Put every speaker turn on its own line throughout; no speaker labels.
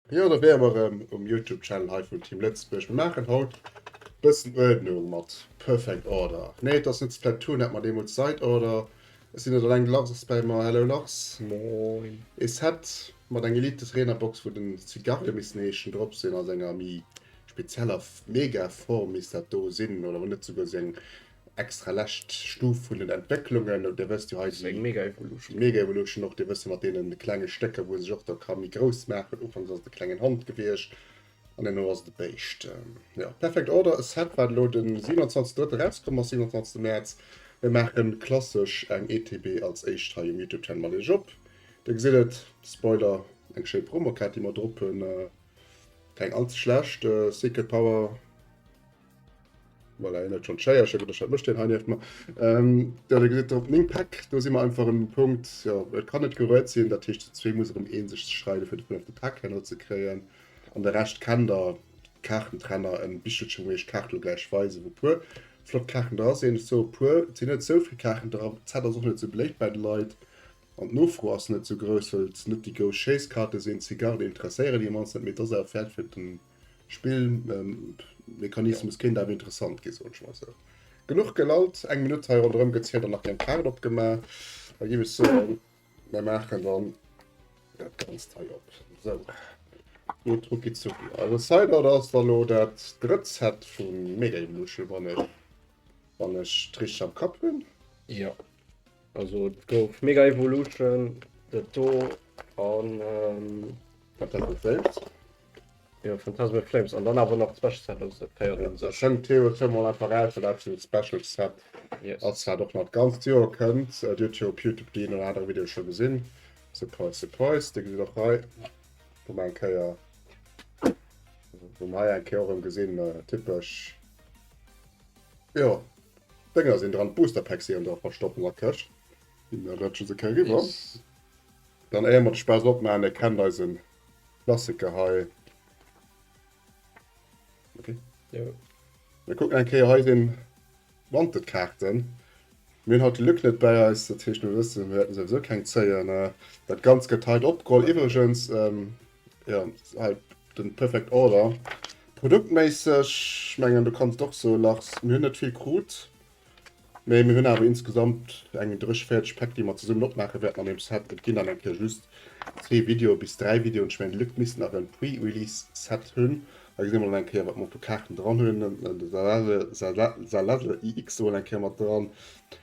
Jo, do wäre mer erëm um Youtube-Channel hei vun Team Lëtzebuerg. Mir maachen haut e bëssen Uerdnung mat Perfect Order. Nee, et ass net Splatoon, dat mer deemools Side Order Et sinn net alleng Lachs bäi mer. Hello Lachs. Moin. Ee
Set
mat eng Elite Trainer Box wou den Zigarre missten heeschen drop sinn, ass enger méi spezieller Mega Form misst dat do sinn oder hunn net souguer sou eng extra lescht Stuf vun den Entwécklungen oder dir wësst jo hei si Mega Evolution
Mega Evolution och dir
wësse mat deenen klenge Stécker wou e sech och da ka méi grouss maachen. Ufanks ass et e klengen Hond gewiescht. An deemno ass et e Béischt. Jo, Perfect Order, e Set wat elo den 27.3. erauskomm ass, 27 Mäerz. Mir maachen klassesch eng ETB als éischt hei um Youtube Channel. Mat Iech op, Dir gesitt et, Spoiler, eng schéi Promo Kaart déi mer drop hunn, keng all ze schlecht, Secret Power. Voilà, hien huet schonn d'Schéiercher gedréckt, dat mécht hien hei nieft mer. Ähm, da da gesäit op meng Päck, do si mer einfach un dem Punkt, jo, et kann net geruet sinn, dat heescht, zu zwee muss erëm ee sech ze schreiden, fir de Punkt op de Päck herno ze kréien. An de Rescht kennt der, Kaartentrenner, en Bichelchen, wou iech d'Kaart elo gläich weisen, wou puer flott Kaarten dra sinn. Ech soe puer, et sinn net esou vill Kaarten dra, d'Zett ass och net esou beléift bei de Leit an d'Nofro ass net esou grouss, well et net déi grouss Schéisskaarte sinn. D'Zigarden interesséieren déi mannst net, mee et ass awer Fäert fir den. Spillmechanismus
kéint awer interessant
ginn, soen ech mol esou. Genuch gelallt, eng Minutt hei ronderëm gezielt an nach keng Kaart opgemaach. Da géif ech soen, mir maachen dann dat Ganzt hei op. Sou, et rucki-zucki. Also Sideboard ass dann elo dat drëtt Set vu Mega Evolution, wann ech et richteg am Kapp hunn. Jo,
Also et gouf Mega Evolution, dat do an
Phantasm in Flames. Jo,
Phantasm in Flames an dann awer nach d'Special Set, also dat féiert un sech. Schéngt Theo
Thiem
mol
einfach aus, well dat fir Special Set ass, wat och
nach d'ganzt
Joer kënnt. Dir huet jo op Youtube déi een oder anere Video scho gesinn. Surprise, surprise, Dir gesitt och hei, wou mer eng Kéier, wou mer hei eng Kéier och erëm gesinn, typesch, jo. D'Dënger sinn dran, d'Booster Packs si an der verstoppener Këscht. Déi rëtschen se kéier riwwer.
Dann éier
mer de Spaass opmaachen, dir kennt eise Klassiker hei. Ok. Jo.
Mir kucken
eng Kéier hei den Wanted Kaarten. Mir hunn haut de Luc net bäi eis, dat heescht mir wëssen, mir wäerten souwisou keng zéien. Dat Ganzt gëtt hei opgeholl. Iwwregens, Ja, halt den Perfect Order. Produktméisseg, ich mengen du kannst och so lachs, mir hunn net vill krut, mee mir hunn awer insgesamt eng drëch fäerdeg Päck déi mer zesummen opmaache wäerten an dem Set. Et ginn dann eng Kéier just zwee Video bis dräi Videoen, ich mengen d'Leit misst nach en Pre-Release Set hunn. Da gesi mer dann eng Kéier wat mer fir Kaarten dran hunn, den Zalazl EX hu mer eng Kéier mat dran,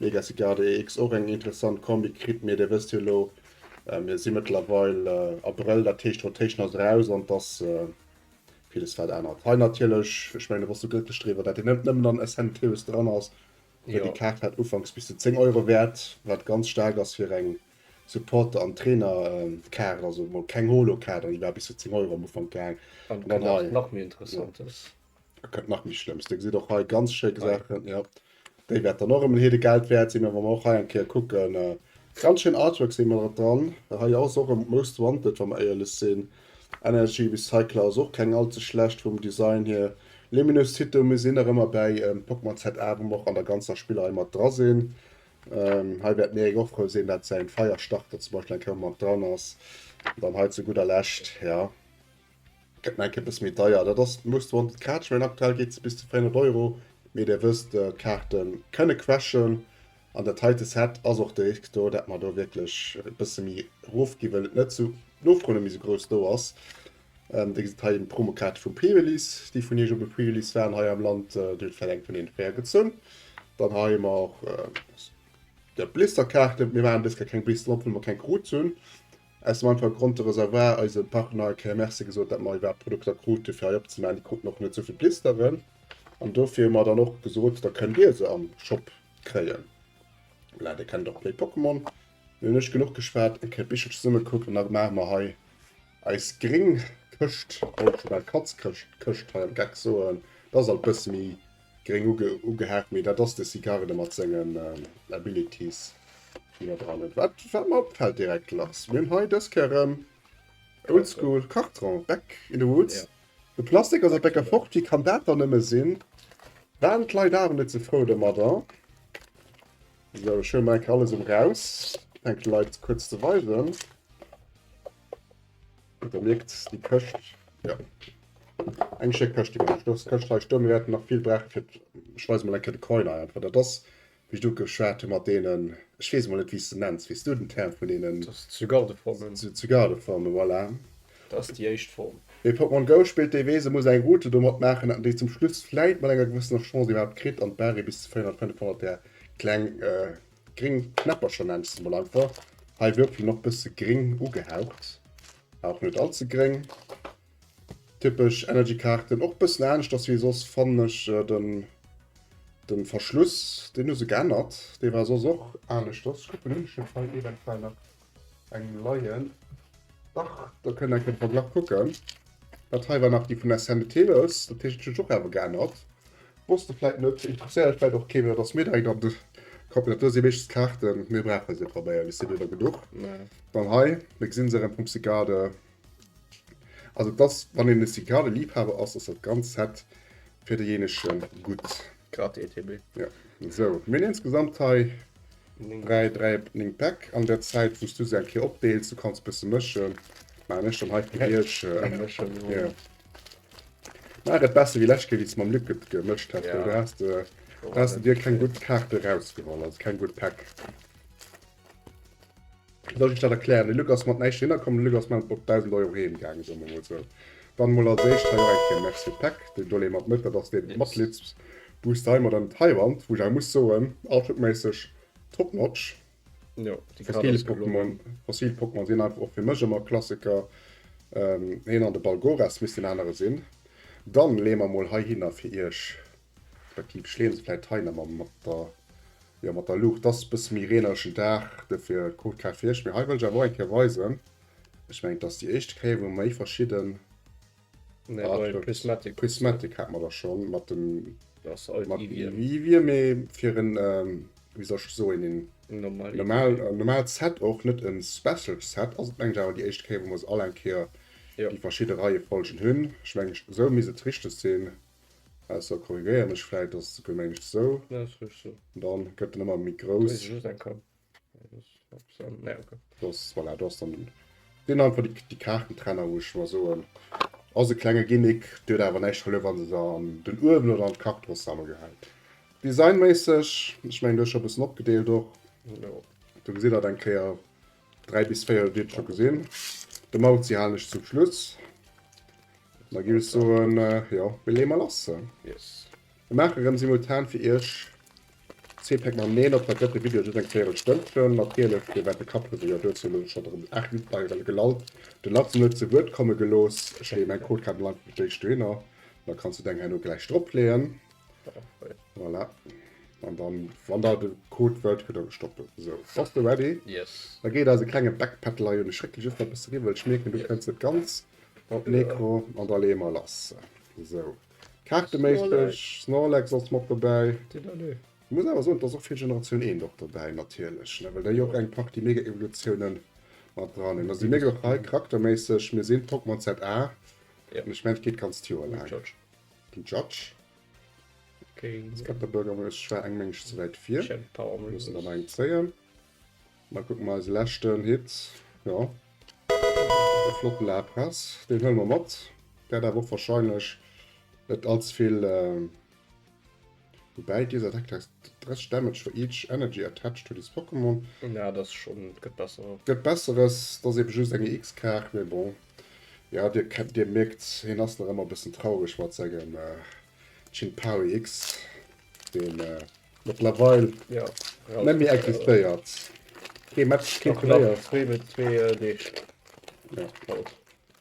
Legacy Garde EX, och eng interessant Kombi kritt, mee Dir wësst jo elo, mir si mëttlerweil Abrëll, dat heescht d'Rotation ass eraus an et ass villes wat ännert. Hei natierlech, ech mengen do bass du glëcklech driwwer, dat hien net nëmmen an Essentials dran ass, well déi Kaart war ufanks bis zu 10 Euro wäert, wat ganz staark ass fir eng Supporter an Trainer-Kaart, also emol keng Holo-Kaart an déi war bis zu 10 Euro am Ufank gaang. An dann hei. An dann hei. Wat nach
méi
interessant
ass. Da kënnt nach méi
Schlëmms. Dir gesitt och hei ganz schéi Saachen. Ja. Déi wäert dann och ëm en heede Geld wäert sinn, mä wa mer och hei eng Kéier kucken, äh, ganz schéin Artworks hu mer der dran. Hei ass och ëm d'Most wanted, wa mer éierlech sinn. Energy Recycler ass och keng all ze schlecht vum Design hier. Luminous Cito mir sinn nach ëmmer bäi ähm, Pokémon ZA, wou mer och an der ganzer Spillrei mat dra sinn. Ähm, hei wäert d'Méric och frou sinn, dat säin Feierstarter zum Beispill eng Kéier mat dran ass. Dann hei zu gudder Lescht, ja. Gett mer eng Kéier bësse méi deier. Dat ass Most Wanted Catch Rain. Aktuell geet se bis zu 400 Euro. Mee Dir wësst, d'Kaarte kënne crashen. An dat heite Set ass och de Risk do, dat mer do wierklech e bësse méi erof ginn, wëll et net sou, d'Nofro net méi sou grouss do ass. Dir gesitt hei d'Promokaarte vum Pre-Release. Déi vun Iech op e Pre-Release waren hei am Land, Dir hutt vläicht eng vun deenen fréier gezunn. Dann hei hu mer och Blisterkaarten. Mir maachen dës Kéier keng Blisteren op, wëll mer keng krut hunn. Aus dem einfache Grond, de Reservoir, eise Partner, eng Kéier Merci gesot, dat mer iwwerhaapt Produkter krute fir hei opzemaachen. Déi kruten och net esou vill Blisteren an dofir hu mer dann och gesot, da kënnt Dir se am Shop kréien. Voilà, Dir kennt och Play Pokémon. Mir hunn ech genuch geschwat, eng Kéier d'Bichelcher zesumme gekuckt an da maache mer hei eis gréng Këscht, wollt ech scho bal Katzkëscht, Këscht hei am Geck soen. Dat ass alt e bësse méi Gréng ugehaakt, mee dat ass de Sicarde mat sengen Abilities déi mer dran hunn. Wat wat mer opfält direkt Lars, mir hunn hei dës Kéier erëm Oldschool Karton, Back in the Woods. De Plastik
ass e
Bécker fort, wéi kann dat dann nëmme sinn? Waren d'Leit awer net ze frou domadder. Sou, ech huele mol eng Kéier alles erëm raus, fänke leit kuerz ze weisen. Da mierkt déi Këscht, jo, eng schéck Këscht, déi mer elo stouss, d'Këscht hei stoe. Mir wäerten nach vill brauche fir, ech weise mol eng Kéier de Coin hei einfach. Dat ass, wéi ech do geschwat hu mat deenen, ech weess emol net wéi s de nenns, weess du den Term vun deenen? Dat ass Zygardeformen.
Zygardeformen,
voilà. Dat ass déi éischt
Form. Wee Pokémon Go
spillt, dee weess, e muss eng Route domat maachen, datt een déi zum Schluss vläit mat enger gewëssener Chance iwwerhaapt kritt an d'Barré bis zu 400, 500 där kleng gring Knäppercher nennt se mol einfach. Hei Würfel noch bësse gring ugehaucht, auch net all ze gring. Typesch Energy Kaarten, och bëssen anescht ass wéi soss fannen ech den den Verschluss, den hu se geännert, dee war soss och aneschters. Kucken hunn ech net hei eventuell nach. Eng Leien. Dach, do kënnt enke Verglach kucken. Dat hei war nach déi vun der Scène de Téléus, dat heescht, et huet sech och awer geännert. Wosst de vläit net, interesséiert lech vläit och kee méi, datt mir direkt an de Kapp. Dat do si meeschtens d'Kaarten, mir brauche se probéier bis si do da genuch. Dann hei, da gesi se erëm vum Cycade. Also et ass, wann een e Cycade-Liibhaber ass, ass dat ganzt Set fir deejéinege gutt. Grad
ETB. Jo. Sou,
mir hunn insgesamt hei 3, 3, 9 Päck. An der Zäit, wou s du se eng Kéier opdeels, du kanns e bësse mëschen, maachen ech dann hei fir iech. Jo. Maach et besser wéi lescht Kéier, wéi s de mam Luc et gemëscht häss, well do has de,
do
has de dir keng gutt Kaarte erausgeholl, also keng gutt Päck. Soll ech dat erklären? De Luc ass mat näischt hinner komm, de Luc ass mat 1.000 Euro heem gaangen, soe mer mol sou. Dann mol als éischt hei och eng Kéier Merci u Peck, deen do lee mat net, dat ass deen Matgliedsbooster hei mat ëm d'Haiwand, wou ech awer muss soen, Artwork-méisseg top notch. Jo,
déi Kaart ass gelongen.
Fossil Pokémon sinn einfach och fir mech ëmmer Klassiker, heen an de Balgoras misst deen anere sinn. Dann lee mer mol heihinner fir iech. Effektiv schleeën se vläit hei nemmer mat der, jo mat der Luucht. Ass e bësse méi reeneregen Dag, dofir kuckt grad fir iech. Mee hei wëll ech awer och eng Kéier weisen, ech mengen et ass déi éischte Kéier wou méi verschidden Artworks, Prismatic hat mer der schonn mat dem, mat Eevee, mee fir en, wéi soll ech soen, een normal Set och, net e Special Set ass et mengen ech awer déi éischte Kéier wou mer se all eng Kéier déi verschidde Reiefolgen hunn. Ech mengen esou misst et richteg sinn. Ausser korrigéieren ech vläit, dass et souguer mengt esou. Nee, ass richteg esou. Dann gëtt en ëmmer méi grouss. Muss ech just eng Kap. Nee, dat ass net bis an. Nee, ok. Dass, voilà, do ass dann deen einfach déi, déi Kaartentrenner, wou ech mer soen, ass e klenge Gimmick, dee huet awer näischt verluer, wann s de se an den Uewen oder an d'Kach dross zesam gehäit. Designméisseg, ech mengen, du hues scho e bëssen opgedeelt och. Jo. Do gesitt der et eng Kéier, 3 bis 4 huet Dir scho gesinn. De Mauzi halen ech zum Schluss. Da ginn ech soen, äh, jo, mir leeë mol lass. Yes. Mir maache rëm simultan fir Iech Zeepäck mam Neen op. Dat gëtt de Video just eng véierel Stënn fëllen. Natierlech, Dir wäert de Kapphuesel jo duerzu elo scho erëm 8 Minutten hei erëm gelallt. Den Lars hunn net zu Wuert komme gelooss. Ech leeë mäin Codekabel einfach beim Jay Striener. Da kanns du deng herno gläich dropleeën. Voilà. An dann, wann der de Code wëllt, kritt der de Stoppel. So, bass du ready? Yes. Da geet eise klenge Backpedal hei un. Ech réckele just nach e bësse riwwer, well ech mierken, du kënns net ganz op d'Mikro. An da leeë mer lass. So, kaarteméisseg, Snorlax ass mat dobäi. Ech muss awer soen, et ass och vill Generatioun Eent och dobäi natierlech, ne, well déi jo och eng Partie Mega-Evolutiounen mat dran hunn. Da si mir glo hei charakterméisseg, mir sinn d'Pokémon ZA. An ech mengen, et geet d'ganzt Joer laang. Den Judge. Okay. Jetzt kommt der Bürgermeister. Ich war eng Mensch zu weit vier. Ich hab Power Move. Müssen aber eng zählen. Mal gucken mal den letzten Hit. Ja. Der flotten La Presse. Den hören wir mit. Der hat auch wahrscheinlich nicht allzu viel. Äh Woubäi deser Deck takes 30 damage for each energy attached to this Pokémon. Na dat ass schon,
gëtt besser. Gëtt besseres, dat
ass eben just eng EX Kaart, mee bon. Jo dir kennt, dir mierkt hien ass nach ëmmer e bëssen traureg mat sengem Ching-Pao EX, dee mëttlerweil
net méi
existéiert. Kee Match, kee Turnéier. Nach zwee Deeg.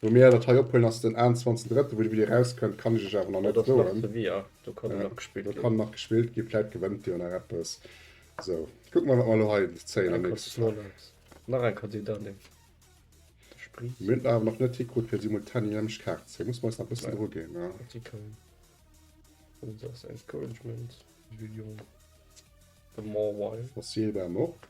Wou mir dat hei ophuelen ass den 21 Drëtten, wou de Video erauskënnt kann ech iech awer nach net soen. Dat ass nach ze vi, jo, do kann nach gespillt ginn. Do kann nach gespillt ginn, vläit gewënnt dir jo nach eppes. Sou, kucke mer wat mer elo hei zéien am nächste Slot. Nach eng Kandidat nehmen. Mir hunn et awer nach net hikrut fir simultan déi nämlecht Kaart ze zéien, musse mer eis nach e bëssen Dru ginn. Artikel, Users
encouragement, Julien, the more why. Fossil war en och.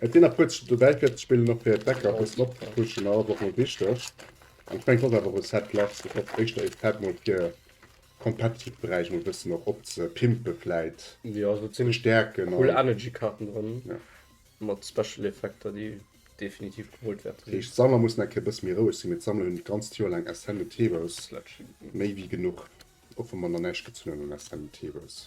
Et sinn
nach puer dobäi fir ze spillen, och fir d'Decker e bëssen op ze pushen. Ass och mol wichteg. An ech mengen et ass awer e Set Less, fir och éischter e Set mol fir competitive Beräich mol e bëssen och op ze pimpe vläit. Jo, do sinn
Stäerken a. Cool Energy
Kaarten
drënn. Jo. Mat
Special
Effekter déi definitiv gewollt wäerte sinn. Heescht d'Sammler mussen eng Kéier e
bësse méi roueg sinn, mee d'Sammler hunn d'ganzt Joer laang Ascendant Heroes. Sledge. Méi wéi genuch. Och wa mer nach näischt gezunn hunn un Ascendant Heroes.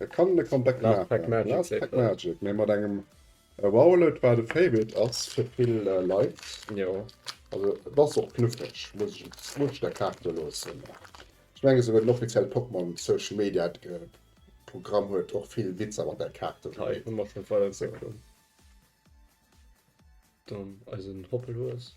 Et kann
en e Comeback maachen. Last Pack Magic. Last Pack
Magic, mee
mat engem Rowlet, wat e Favorite ass fir vill Leit. Jo.
Also et
ass och knuffeg, muss ech et, muss ech der Kaart do loossen. Ech menge souguer den offizielle Pokémon Social Media Programm huet och vill Witzer mat där Kaart do gemeet. Hei hu mer schonn d'Weiterentwécklung,
dann eisen Hoppelhues.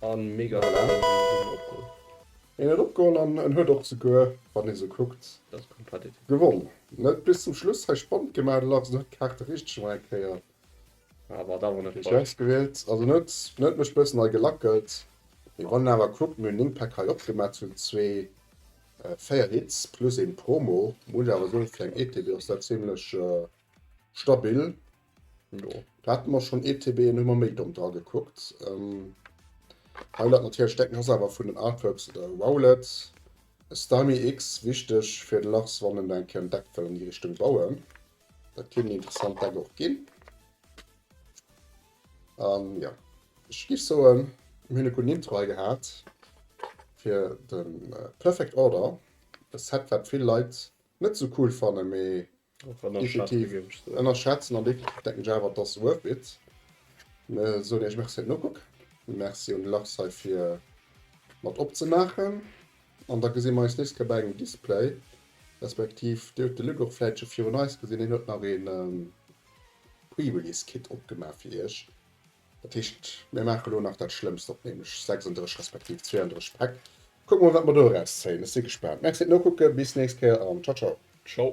An mega den Aarm an en huet en opgeholl.
En huet opgeholl an en huet och souguer, wann ee sou kuckt,
gewonn. Net
bis zum Schluss hei spannend gemaach, de Larsen huet d'Kaarte richteg ëm eng Kéier
richteg ausgewielt, also
en huet en huet mech bëssen hei gelackelt. Mee wann een awer kuckt, mir hunn 9 Päck hei opgemaach zu zwee, 4 Hits plus een Promo, muss ech awer soen, fir eng ETB ass dat zimlech stabil.
Jo, da hatten mer schon
ETB en hummer méi domm dra gekuckt. Ähm, Highlight natierlech decken ass awer vun den Artworks oder Rowlet. Stymie X wichteg fir den Lachs wann en eng Kéier en Deck wëll an déi Richtung bauen. Dat kinnt en interessant Deck och ginn. An ja ech giff soen mir hunn e gudden Intro hei gehat fir den Perfect Order. E Set wat vill Leit net sou cool fannen mee Definitiv ënnerschätzen
an definitiv
denken ech awer et ass worth it. Soen iech Merci fir den Ukuck, Merci un de Lars hei fir mat opzemaachen an da gesi mer eis nächst Kéier bei engem Display respektiv Dir hutt de Luc och vläit scho virun eis gesinn, hien huet nach ee Pre-Release Kit opgemaach fir iech. Dat heescht, mir maachen elo nach dat Schlëmmst op, nämlech 36 respektiv 32 Päck. Kucke mol, wat mer do eraus zéien. Ech si gespaant. Merci fir d'Nokucken. Bis d'nächst Kéier an ciao ciao. Ciao.